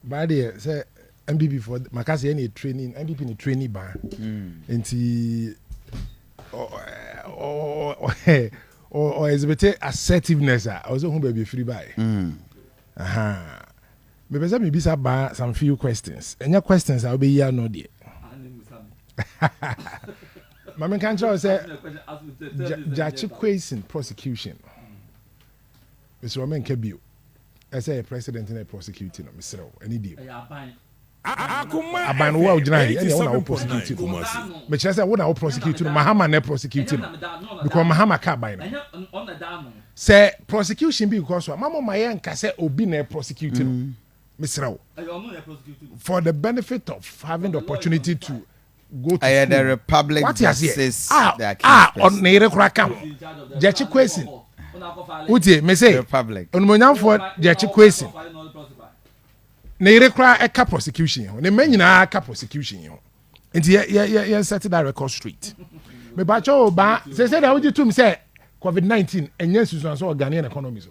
baa deɛ sɛ npp fɔ maka sɛ ɛne trani npp ne trani baa hmm. nti ɔ exhibit assertiveness a ɔsɛ hu baabi ɛfiri baeɛ hmm. mepɛ sɛ mebisa baa some few questions ɛnyɛ questions a wobɛyi ano deɛ ma menka nkyerɛ wo sɛ gyakye quasin prosecution Mesrɛ wo menka bio sɛ ɛyɛ president na ɛprɔsekiuti no, mesrɛ wo, ɛne deɛ mu. Aban no wo a wogyina ha yi ɛneɛ wo na wo prosecute no mekyerɛ sɛ wo na wo prosecute no Mahama na prosecute no because Mahama ka aban no sɛ prosecution bi kɔ so a mamo ma yɛ nka sɛ obi na prosecute no mm. mesrɛ wo for the benefit of having the opportunity to go to school. the republic Wate that aseɛ? says A they are a king's ɔ- person. ne yere koraa ka ho. Gyakye Kwasin. Wotie me se Republic. onimonyamfoɔ Gyakye Kwasin. Ne yere koraa ɛka prosecution yi ho. Ne mma nyinaa ka prosecution yi ho. Nti yɛ yɛ yɛ yɛn set that record straight. Mebakyɛ o baa sese na wogye tum sɛ COVID-19 ɛnyɛ nsusuanso wɔ Ghanaian economy so.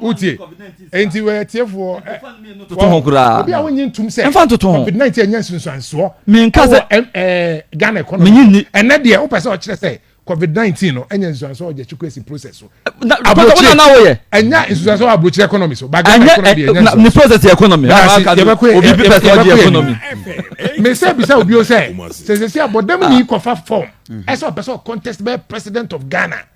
wotie enti wɔ atiefoɔ toto ho koraa obi a wonye ntom sɛ ɛmfa ntoto ho covid 19 ɛnyɛ nsunsuansoɔ menka sɛ eh, ghana economy menye nni ɛnɛ deɛ wopɛ sɛ ɔkyerɛ sɛ covid 19 no ɛnyɛ nsunsuansoɔ ɔgya kyiko asi process so aburokyire na woyɛ ɛnyɛ nsunsuansoɔ aburokyire economy so ba ghana economy deɛ ɛnyɛ nsunsuansoɔ ne process yɛ economy obi bi pɛ sɛ ɔgye economy mesɛ bisa obi o sɛ sɛ sɛ sɛ abɔdam ni kɔfa form ɛsɛ ɔpɛ sɛ ɔcontest bɛyɛ president of ghana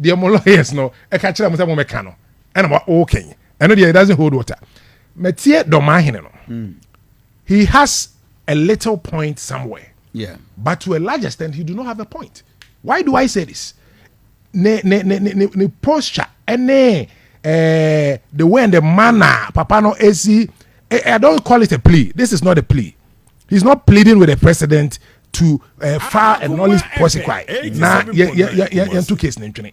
Deɛ mo lawyers no ɛka kyerɛ mo sɛ mo mɛka no ɛna mo ɔɔkɛn ɛno deɛ it doesn't hold water mɛtie dɔmaahene no mm. he has a little point somewhere yeah. but to a large extent he do not have a point why do I say this ne ne ne ne ne, ne posture ɛne eh, the way and the manner papa no esi eh, I don't call it a plea this is not a plea he's not pleading with the president to uh, file a noise policy cry na yɛnto case no ntwene